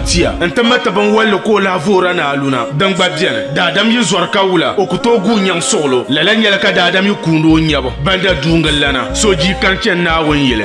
tia n ti mati binwalli ka o lahi voora ni aluna din gba biɛni daadam yi zɔri ka wula o ku tooi guui nyaŋ suɣulo lala nyɛla ka daadam yi kuuni o nyɛbu banda duungillana so jii kan chɛni Naawuni yili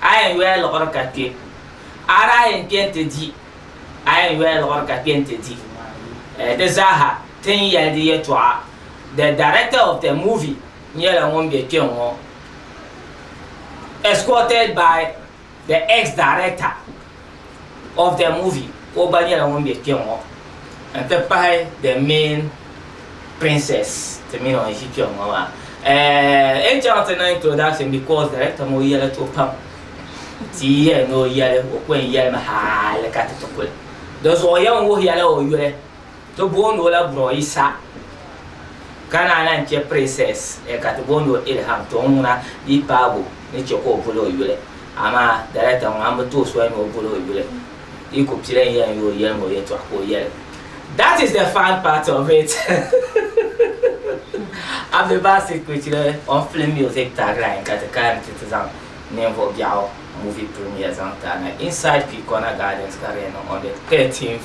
a yɛn yoya liɣiri ka kpe, a daa yɛn kpe nti di, a yɛn yoya liɣiri ka kpe nti di. Eh, di zaaha ti ni yɛli di yɛtɔɣa, The director of the movie nyɛla ŋun be kpe ŋɔ, escorted by the ex-director. of the movie ka o gba nyɛla ŋun be kpe ŋɔ n ti pahi the main princess ti mini o ni ʒi kpe ŋɔ maa eh, n chaŋ ti niŋ introduction because director ŋɔ yɛli to pam ti yɛli ni o yɛli o kwen yɛlimi haali ka ti ti kuli di zuɣu yɛn wuhiya la o yuli Ti booni o la Bro Isa. Ka naa lahi che Princess eh ka ti booni o Ilham to ŋuna di paabu ni che ka o boli o yuli. Amaa Director ŋɔ ambi ti o soli ni o boli o yuli. Di ku pili n yɛli n yoo yɛli ŋɔ yɛltɔɣa ka o yɛli. That is the fun part of it Abdi Basit Kpecile on film music tagline ka ti kana nti ti zaŋ ninvuɣu biɛɣu movie premiere zaŋ ti a na inside Kwikona Gardens ka di yɛn niŋ on the 13th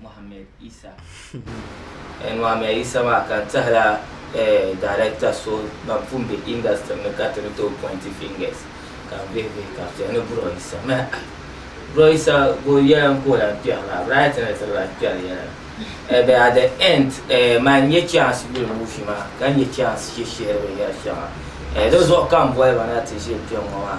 Mohammed Isa. N Mohammed Isa maa ka n tɛhila director so ban pun be industry ni ka ti ni tooi pointi fingers ka n vihi vihi ka chɛ ni Bro Isa mi ai Bro Isa go yɛla n ka o lan kpɛri maa right ni ti lan kpɛri yɛla but at the end man n nya chance yuli movie maa ka nya chance shishihiri binyɛri shɛŋa di zuɣu ka m boli ba na ti ʒini kpɛŋŋɔ maa.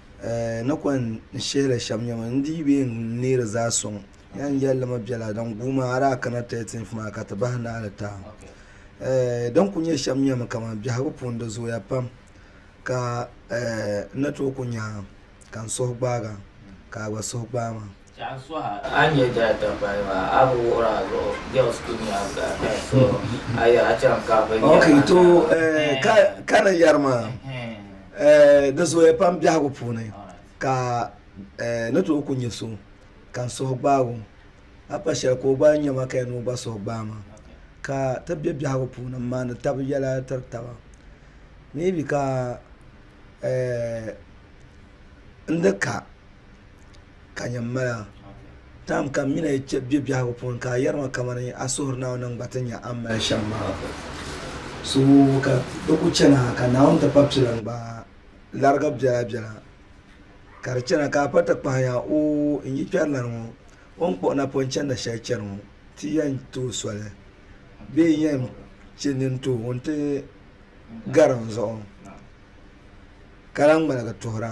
eh, na kɔŋ n-shihili shɛm nyɛ ma, n-dii bee n-neeri zaa sɔŋ ya n-yɛli li ma biɛla din guuma a daa kana 13th maa ka ti bahi naali taam eh, din ku nyɛ shɛm nyɛ mi kaman biɛhigu puuni di zooya pam ka eh, n ni tooi ku nya ka n suhu gbaag a ka a gba suhu gbaai ma. Chɛɣu suha a nyɛ Delta payi maa a bi wuhiri a zuɣu girls kuli nyɛ a black eye so a yɛra a chaŋ ka bi nyɛ okay to ka ka ni yɛri maa di zooya pam biɛhigu puuni ka ni tooi ku nyɛ so ka n suhu gbaag o a pa shɛli ka o gba nya ma ka yɛn ni o gba suhu gbaai ma ka ti be biɛhigu puuni n maandi tabi yɛla tiri taba maybe ka n di ka Ka nyɛ m mali a. Tam ka m mi ni yi kpe bɛ biɛhigu puuni ka a yɛri ma kamani a suhiri Naawuni ni n gba ti nya a ni mali shɛm maa suhudoo ka di kul chani ha ka Naawuni ti pa pili n gbaai larigi biɛla biɛla ka di chana ka a pa ti kpahi ya oo n yi kpɛrilana ŋɔ o ni kpuɣi napɔŋ chanda shɛli chani ŋɔ ti yɛn ti o soli bee n yɛn chɛ nini ti o nti gari n zuɣu ka lahi ŋmaligi tuhira.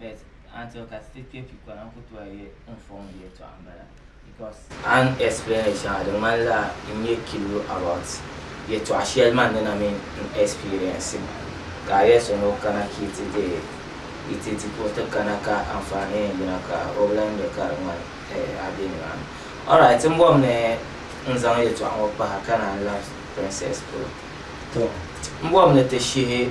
but Antioch state kpe pi kɔna n ku tɔya ye n fɔŋ di yɛtɔɣa m-bala because a ni explain li shɛŋa di ŋmani la n nyɛ kilo about yɛtɔɣa shɛli man ni na mi n experience maa ka a yɛli so ni o kana ka yi ti di yi ti di ka o ti kana ka anfaani yɛn yina ka o bi lan nya ka di ŋmani eh a be nimaani alright m bɔbi ni n zaŋ yɛtɔɣa ŋɔ pahi ka naan lahi Princess polo to m bɔbi ni ti shihi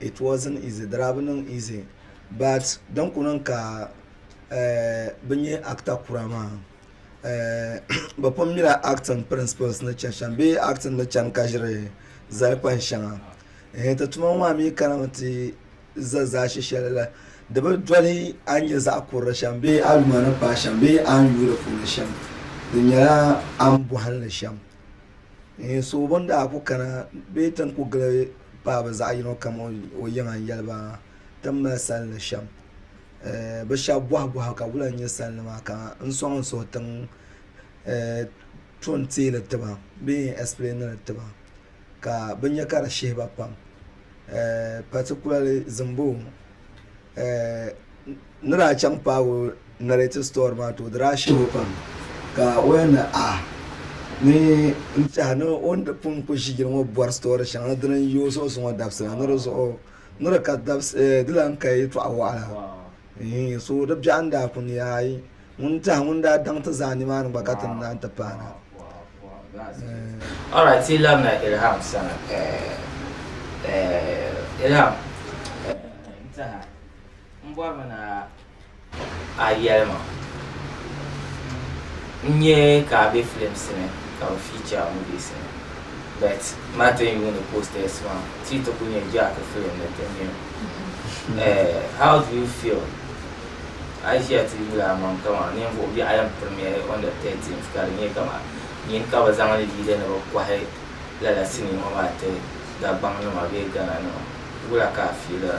It wasn't easy, di daa bi niŋ easy but din kuli niŋ ka bɛ nyɛ actor kura maa bɛ pun mila acting principles ni chani shɛm bee acting ni chani ka ʒiri zali kpani shɛŋa ehe ti tuma ŋɔ maa mi kana mi ti za zaashi shɛli la di bi doli a ni nyɛ zaɣ kurili shɛm bee a yuma ni paai shɛm bee a ni yuui di puuni shɛm di nyɛla a ni bɔhili ni shɛm. Ŋun suhu bini daa ku kana bee ti ni ku gili paai bɛ zaɣ yino kam o yiŋa n-yɛli ba, Ti ni mali sali ni shɛm. Bɛ shɛba bɔhi bɔhi ka wula n-nyɛ sali ni maa ka n sɔŋ n suhu tiŋ tɔn teei li ti ba bee n explain li ti ba ka bɛ nya ka di shihi ba pam particularly Zimbom. N ni daa chaŋ paagi o narrative story maa ti o di daa shebo pam ka o yɛn ni a ni n tɛha ni o ni di pun ku ʒi yili ŋɔ bɔri story shɛŋa ni dini n-yi o zuɣu zuŋɔ dabisi la ni di zuɣu ni di ka dabisi di lan ka yɛltɔɣa wɔɣila eeh so di biɛɣu n daa ku ni aai ŋun tɛha ŋun daa daŋ ti zaa nimaani gba ka ti ni naan ti paana eeh. Alright yi labina Ilham sani eeh eeh Ilham eeh n tɛha. M bɔri mi ni a yɛli ma n nya ka a be films ni ka bɛ feature movies ni but ma tin yuuni posters maa ti yi ti kuli nya Jack film ni ti nya eh, how do you feel a yi ʒiya ti yuli a maŋ kaman ninvuɣ biɛɣu yɛn premiere on the 13th ka di nyɛ kaman nyin ka bɛ zaŋ li leader ni bɛ kɔhi lala sinii ŋɔ maa ti Dagbaŋ nima bee Ghana nima wula ka a fiilira?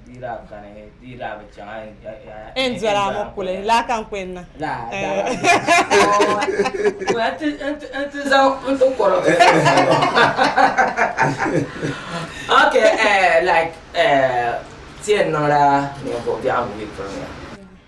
N dɔla ŋɔ kuli laa ka n kuli niŋ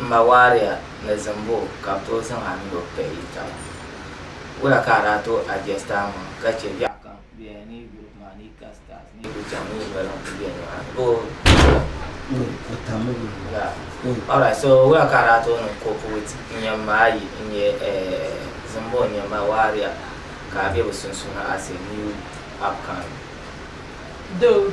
M ma waariya ni zimbu ka bɛ tooi zaŋ a mini o kpɛhi yi taba. Wula ka a daa tooi adjust a ŋɔ ka chɛ biɛɣu kam ku bela ni yi guri maa ni yi ka stars ni yi ku chaŋ ni yi noli n-ku be nimaani boo? Yeah. Alright, so wula ka a daa tooi niŋ cope with n yɛn ma a yi n-nyɛ eh, zimbu n-nyɛ ma waariya ka a be bɛ sunsuuni as a new upcoming? Doo,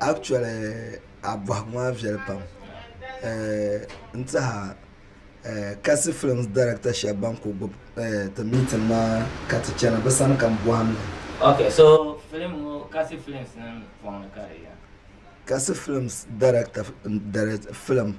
Actually a bɔhigu maa viɛli pam n tiɛha kasi films director shɛba ban kuli gbubi ti meeting maa ka ti chana bɛ sani ka m bɔhim li. Ok so film ŋɔ kasi films nim pɔŋ ni ka di yɛn. Kasi films director n direct film.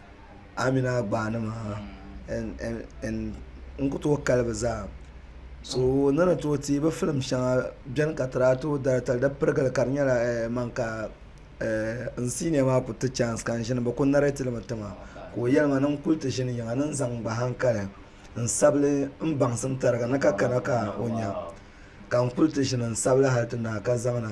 Amina gbaani maa n ku tooi kali bi zaa so ni ni tooi teei bi filim shɛŋa bɛni ka ti daa tooi dari tali di pirigili ka di nyɛla man ka n siiniya maa ku ti chaans ka n ʒini bi ku nɛrɛtiri mi tiŋa ka o yɛli ma ni n kuli ti ʒini yiŋa ni n zaŋ n gba hankali n sabigi n baŋsim tariga ni ka kana ka o nya ka n kuli ti ʒini n sabigi hali ti naai ka zaŋ na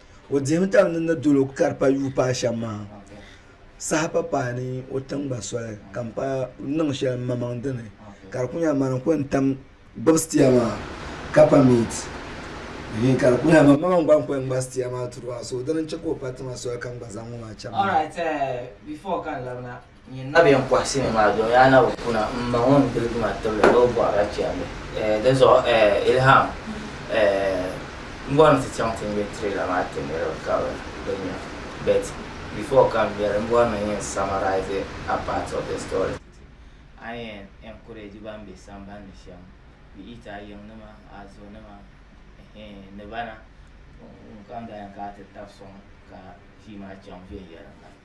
O dihimi tam ni ni dolo ka di pa yuui paai shɛm maa saha pa paai ni o tiŋ gba soli ka m pa niŋ shɛli m mamaŋ dini ka di kuli nyɛla mani n kuli tam gbubi sitiya maa ka pa miit hii ka di kuli nyɛla m mamaŋ gba n kuli ŋma sitiya maa turi ba so dini n chɛ ka o pa tima soli ka n gba zaŋ ŋɔ maa chaŋ maa. Alright, eh, before ka n labina. Nyin na bɛn pɔhisi mi maa domi a na bi kuna m-ma ŋun gbiligi ma tibili ni o bɔhir a chɛndi. Dinzuɣu Ilham, m bɔri ni ti chaŋ ti ŋme trailer maa ti niriba ka bɛ di nya. But before ka m ŋmeri, m bɔri ni n yɛn summarise a part of the story. A ni yɛn encourage ban be sambani shɛm, be it a yiŋnima, a zonima eeh ni bana. Ŋun kam daa yɛn kana ti tabi sɔŋ ka kpii maa chaŋ viɛnyɛliŋga.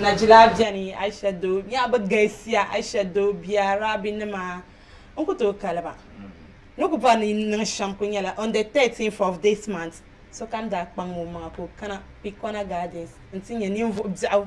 Najila beni Aisha doo nyɛɣu bi galisiya Aisha doo bia Rabi nima n ku tooi kali ba ni ku bɔri ni niŋ shɛm ku nyɛla on the 13th of this month sokam daa kpaŋmi o maŋa ka o kana Pikɔna Gardens n ti nyɛ ninvuɣu biɛɣu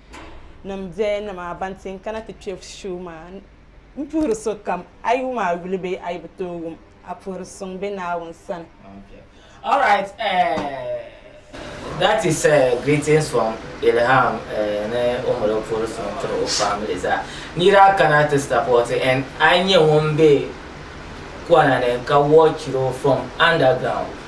nim bɛya ni maa ban ti n-kana ti kpe shuu maa m-puhiri sokam a yi wum a yuli bee a yi bi tooi wum a puhiri suŋ be Naawuni sani. All right, uh, that is uh, greetings from Ilham uh, ni o mali o puhiri suŋ tiri o family zaa. Ni daa kana ti support and a nyɛ ŋun be kɔna ni ka watch o from underground.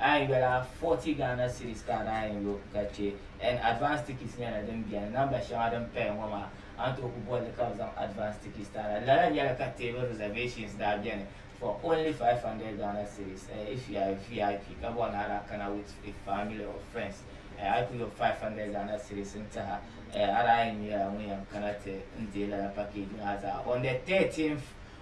A yi yuli a 40 Ghana cedis ka a daa yɛn lo ka chɛ and advance tickets nyɛla din beni namba shɛŋa din paya ŋɔ maa a ni tooi ku bolli ka bɛ zaŋ advance tickets ti a la. Lala nyɛla ka table reservations daa beni for only 500 Ghana cedis eh if you are a VIP ka bɔri ni a daa kana with a family or friends eh a yi ku lo 500 Ghana cedis n-tih a eh a daa yɛn nyɛla ŋun yɛn kana ti n-deei lala package maa zaa on the 13th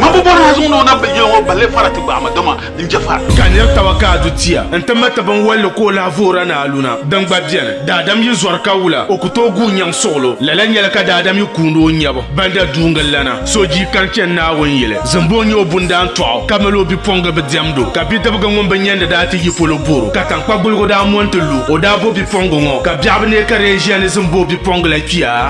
Ŋun bi bɔri ha zuŋ ni o na bi yili ŋɔ balle fara ti gbaai ma, dama n je fara. Ka nir taba ka a du tia nti ma ti binwalli ka o lahi voora ni aluna, din gba beni. Daadam yi zɔri ka wula, o ku tooi guui nyaŋ suɣilo. Lala nyɛla ka daadam yi kuundi o nyɛbu banda duuŋil lana. So jii kani chani Naawuni yili, zimbu o nyɛ o bundaan tɔɣu, ka mali o bipuɣiŋga bi diɛmd o. Ka bidibga ŋun bi nyandi daa ti yi polo bor o, ka taŋkpa guligu daa mo nti lu o. O daa bo bipuɣiŋga ŋɔ, ka biɛɣu bi neei ka di yɛn ʒiya ni zimbu o bipuɣiŋga la kpia.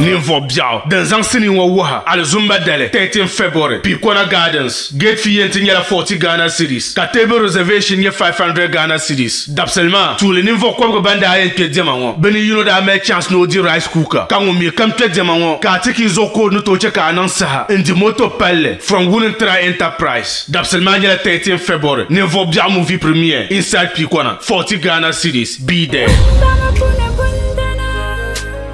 Ninvuɣ biɛɣu din zaŋ sinii ŋɔ wuhi alizumba dali 13 February, Picona Gardens, Gate fee yɛn ti nyɛla 40 Ghana cedis ka table reservation nyɛ 500 Ghana cedis. Dabisili maa, tuuli ninvuɣ kɔbigu ban daa yɛn kpe diɛma ŋɔ, bɛ ni yino daa mali chance ni o di rice cooker ka ŋun mi kam kpe diɛma ŋɔ ka a ti ki zuɣu ka o ni tooi chɛ ka a niŋ saha n-di moto palli from Wulintra Enterprise. Dabisili maa nyɛla 13 February, ninvuɣ biɛɣu movie premiere inside Picona, 40 Ghana cedis, be there. Bɛ zaŋ a kuni bundana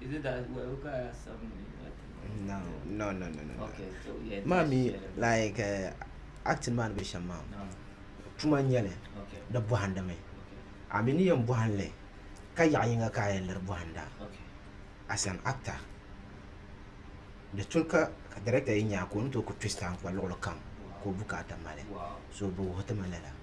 Is it that well, look at seven minutes? No, no, no, no, no. Okay, so yeah. Mommy, like uh, acting man be shama. No. Tuma nyɛli di bɔhindi mi a mi ni yɛn bɔhinli ka yaɣa yinga ka a yɛn liri bɔhinda as an actor di tuli ka director yɛn nya ka o ni tooi ku twist a n-kpa luɣili kam ka o bukaata mali so bɛ wuhi ti ma lala.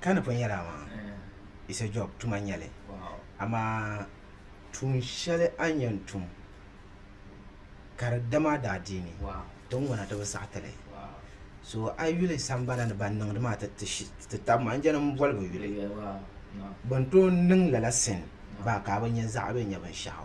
Ka ni pun yɛli a maa, It's a job, tuma n-nyɛ li. Amaa tuun shɛli a ni yɛn tum ka di dam a daadiini, ti ni ŋuna ti bi saɣi ti li. So a yuli sambana ni ban niŋdi maa ti tab ma, n-jɛli m boli bi yuli. Bɛ ni tooi niŋ lala sin baa ka a bi nya zaɣa bee nya binshɛɣu.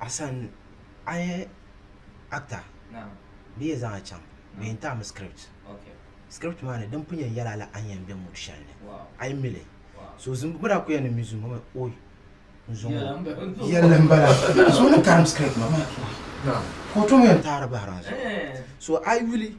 Asan a yɛ actor bɛ yɛn zaŋ a chaŋ bɛ yɛn taai mi script script maa ni din pun yɛn yɛli a la a ni yɛn bɛ mood shɛli ni a yi mi li so zuŋɔ bɛ daa kuli yɛli ni n mi zuŋɔ maa ooyi n zuŋɔ yɛlli n bala so ŋun taai mi script maa ka o tom yɛn taai di bahira n zuŋɔ so a yi yuli.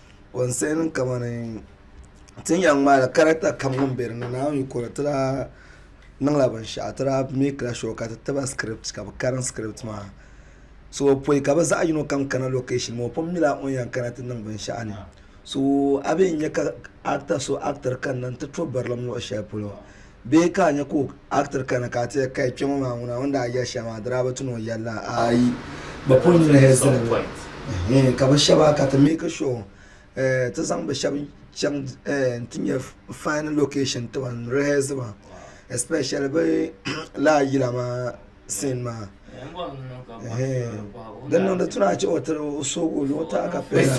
Wunsiɛni kamani ti ni yɛn ŋmaai characta kam ŋun bɛ dinni naawuni yi kuri ti daa niŋ la binshɛɣu ti daa make la sure ka ti tiba script ka bi karim script maa so bi pɔyi ka bi zaɣi yino kam kana location maa o pun nyɛla ŋun yɛn kana ti niŋ binshɛɣu ni so a bɛ yɛn nyɛ ka actor so actor kanna n ti to barilim luɣi shɛli polo Bee ka a nya ka o actor kana ka a ti ya kai kpe ŋɔ maa ŋuna o ni daa yɛli shɛli maa di daa bi ti ni o yɛli la? Aai, bɛ pun nyini hee zani mi. Ɛhɛɛn, ka bɛ shɛba ka ti make sure eh, ti zaŋ bɛ shɛba chaŋ eh, nti nya fine location ti ban rehearse ba especially bɛ laa yila maa scene maa. Ɛhɛɛn, din niŋdi ti ni a chɛ o tiri o soogi o luɣu taai ka pay na.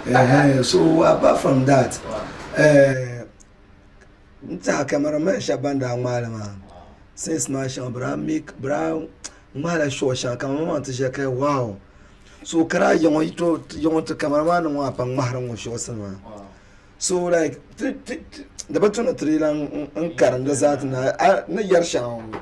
Ɛhɛɛn, so apart from that eh, N tiɛha camera man shɛba ban daa ŋmaai li maa since maa shɛŋa bɛ daa make bɛ daa ŋmaai la short shɛŋa ka ŋɔ maa ti ʒiya ka yɛ wow so ka daa yiɣi ŋɔ yi tooi yiɣi n-ti camera man nim ŋɔ a pam ŋmahiri ŋɔ shorts nima so like di bi tu ni ti di lan karim di zaa ti naai a ni yari shɛŋa ŋɔ.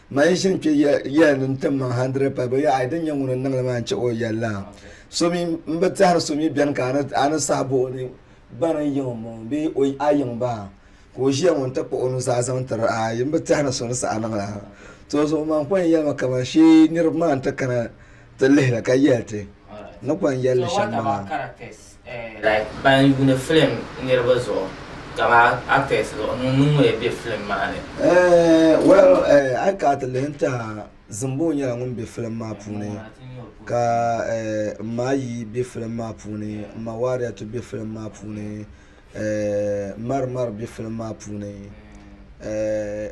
Man yi ʒini kpe yɛli ni n-tim man hundred pay, bɛ yɛli, Ai, din nyɛ ŋun ni niŋ li maa n-chɛ o yɛli la. So mi, m bi tɛhiri so mi beni ka a ni sahi bo o ni bani n-yiŋ o m-bɔŋɔ bee a yiŋ ba ka o ʒiya ŋɔ nti kpuɣ o nuzaa zaŋ tiri a, m bi tɛhiri so ni saha niŋ la. Tɔzuɣu man kɔŋ yɛli ma kaman shee niriba maa nti kana ti lihi li ka yɛli ti ni kɔŋ yɛli li shɛm maa. Like ban yuuni film niriba zuɣu kama actors zuɣu ŋun ŋun ya be film maa ni. Eh, well, eh, a yi kana ti lihi n-tɛha, Zimbo nyɛla ŋun be film maa puuni, ka eh, m ma Ayi be film maa puuni, m ma Wariyatu be film maa puuni, eh, Mari Mari be film maa puuni, eh,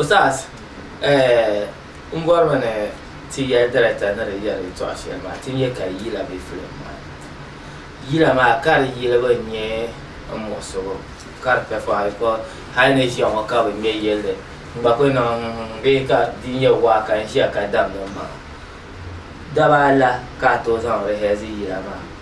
Ustaz, n bɔrimi ni ti yɛli director ni di yɛri yɛtɔɣa shɛli maa ti nyɛ ka yila be film maa ni. Yila maa ka di yilibu n nyɛ n muɣisigu ka di pɛ pɔhiri because hali ni ʒiya ŋɔ ka bi ŋmɛ yɛlli n gba kuli niŋ n-n-n bee ka di nyɛ waa ka n ʒiya ka damdi m maŋa. Daba ala ka a tooi zaŋ rehearse yila maa.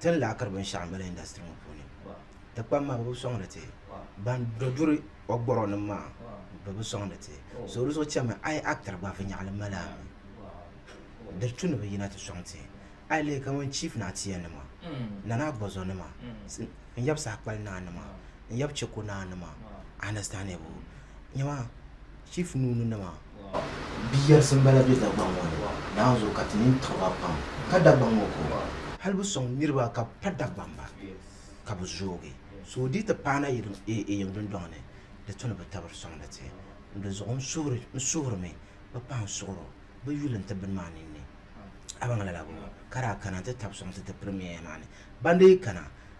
ti ni lahi kiri binshɛɣu m-bala industry ŋɔ puuni ti kpam maa bɛ bi sɔŋdi ti ban duri o gɔrɔnim maa bɛ bi sɔŋdi ti so di zuɣu chami a yi actor gba viɛnyɛɣili mali a mi diri tu ni bɛ yina ti sɔŋ ti a yi lihi kaman Chief Naatiya nima Nana Agbɔzɔ nima n-yab Saakpali Naa nima n-yab Cheko Naa nima a understand ya bɔ nyama Chief Nuuni nima Biyɛrisi m-bala be Dagbaŋ ŋɔ ni naanzu ka ti nini tiɣi ba pam. Ka Dagbaŋ ŋɔ ko? Hali bi sɔŋ niriba ka bɛ pa Dagbaŋ ba ka bɛ zoogi. So di yi ti paai na yiŋ dundɔŋ ni di tu ni bɛ tabiri sɔŋdi ti. N dinzuɣu n suhirimi bɛ pahi n suɣiro bɛ yuli nti bini maa ninni. A baŋ lala bɔ? Ka daa kana nti tabi sɔŋ ti ti pirimiya maa ni. Ban di yi kana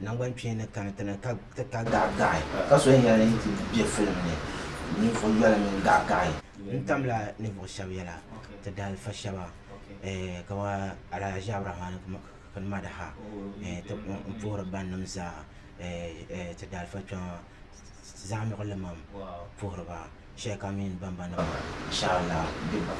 Nangbani kpeeni ni kani ti ni ka ti ka gaɣigaɣi ka so yɛn yɛli ni yi ti bɛ filim ni ninvuɣi yoli mini gaɣigaɣi. N tamla ninvuɣi shɛba yɛla ti daalifa shɛba kamani Alhaji Aburamani Kini Madaha n puhiri bannim zaa ti daalifa kpɛma Zaɣimigu Limam puhiri ba. shɛli kam mini bamba nim maa inshallah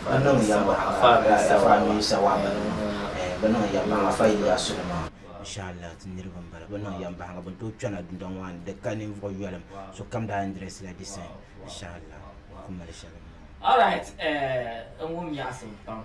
bɛ niŋ yaba afa mini sawaba nima eh bɛ niŋ yaba baŋ afa Ilyasu nima inshallah ti niriba n bala bɛ niŋ yaba baŋ bɛ tooi kpɛna dundɔŋ maa ni di ka ninvuɣu yɔlim sokam daa yɛn dirɛsi la di sani inshallah n ku mali shɛli n bɔŋɔ. Alright eh n wum nyaɣisim pam.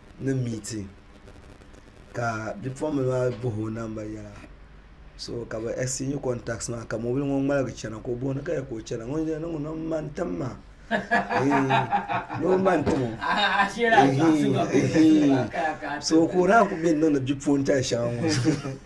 ni meeting ka bipuɣimbila maa bahi o namba yɛla so ka bɛ exchange contacts maa ka mɔbili ŋɔ ŋmaligi chana ka o bɔhi ni ka yɛli ka o chana ŋun yɛn niŋ ŋuna m-ma n-tim ma noo m-ma n-tim o eehii eehii so ka o daa kuli be ni niŋdi bipuɣintali shɛŋa ŋɔ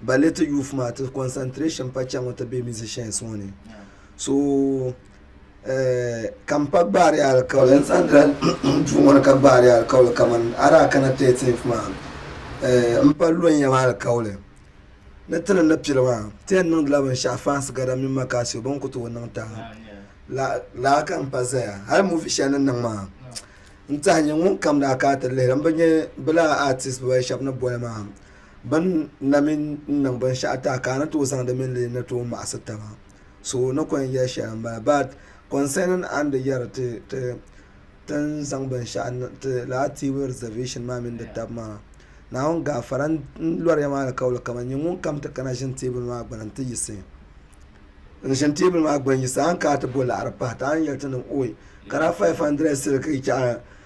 ba le ti youth maa ti concentration pa chɛ ŋɔ ti be musicians ŋɔ ni so eh, ka m pa gbaari alikauli n sandira duu ŋɔ ni ka gbaari alikauli kaman adaa kana 13th maa eh, m pa lɔnyam alikauli ni ti ni ni pili maa ti yɛn niŋdila binshɛɣu fans gada mini makasio bɛ ni ku tooi niŋ tahi la laa ka m pa zaya hali movie shɛli ni niŋ maa n tahi nyɛ ŋun kam daa ka ti lihiri m bi nyɛ bilaa artist bibali shɛba ni boli maa Bɛ ni na mi n-niŋ binshɛɣu ti a ka a ni tooi zaŋdi mini li ni tooi maɣisi taba. So ni kɔŋ yɛli shɛli m-bala. But concerning a ni di yɛri ti ti ni zaŋ binshɛɣu ti Laatiibu reservation maa mini di taba maa, Naawuni gaafara n-lɔri ya maa alikauli kaman nyɛ ŋun kam ti kana ʒini teebuli maa gbini nti yiɣisi n-ʒini teebuli maa gbini yiɣisi a ni kana ti bo laɣiri pahi ti a ni yɛli ti ni oi kana 500 siliki chɛɣu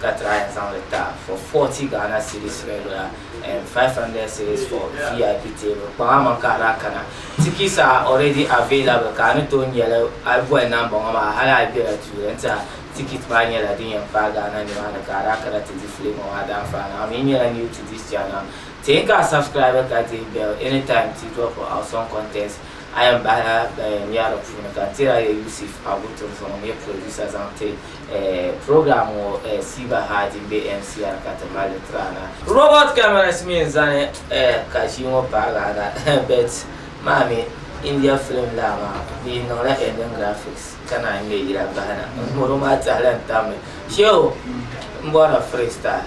ka try n zaŋli ta for 40 Ghana cedis regular and 500 cedis for VIP table kpaŋ a maŋ ka a daa kana tickets are already available ka a ni tooi nyɛli a yi boli number ŋɔ maa hali a yi bela tuuli n-tihi a ticket maa nyɛla din yɛn paai Ghana nimaani ka a daa kana ti di film ŋɔ a daa faa na a mi nyɛla new to this channel teei ka a subscribe ka dihi bell anytime ti drop awesome contents a yɛn bahila ban yɛn nya di puuni ka n tiri a ya Yusuf Abu Tunso ŋun nyɛ producer zaŋ ti Program ŋɔ siiba haaji m-be MCR ka ti mali li tiri a na. Robot cameras mi n-zani ka ʒii ŋɔ paagi a na but maa mi India film laa maa bɛ yi niŋ la ending graphics ka naan ŋme yila bahi na ŋɔ maa tahili n-tam mi. Shehu m-bɔri la freestyle.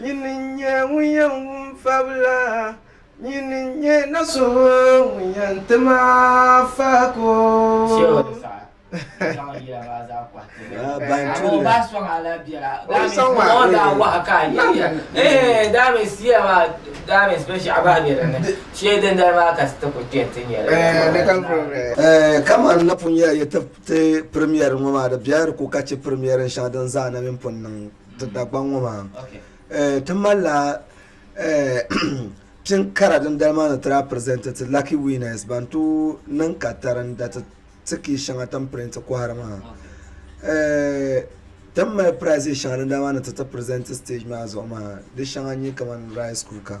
Nyini n-nyɛ ŋun yɛn wum fabila, nyini n-nyɛ na so ŋun yɛn ti ma faako. Kaman na pun yɛli yi ti ti Premier ŋɔ maa, di biɛhiri ku ka chɛ Premier shɛŋa din zaa na mi pun niŋ. Ti Dagbaŋ ŋɔ maa ti malila pini kara din dali maa ni ti daa pirizɛnti ti Lucky Winners ban tooi niŋ katarinda ti ti kii shɛŋa ti ni pirinti kɔhiri maa. Ti ni mali prizes shɛŋa din dali maa ni ti ti pirizɛnti stage maa zuɣu maa di shɛŋa n-nyɛ kamani rice cooker.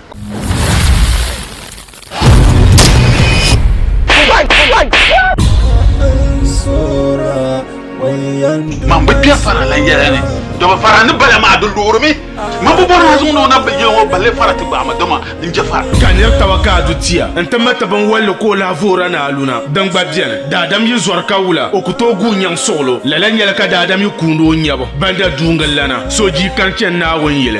Mambo bia fara la yɛla ni dɔba fara ni bala maa di luɣurimi mambo bɔri maa zuŋu ni o na bi yɛli ŋɔ balle fara ti gbaama dɔma n je fara ka nir taba ka a du tia n ti mati binwalli ka o lahi voora ni aluna din gba bɛni daadam yi zɔri ka wula o ku tooi guui nyaŋ suɣilo lala nyɛla ka daadam yi kuuni o nyabu ban da duuŋ n lana so jii kani chani Naawuni yili.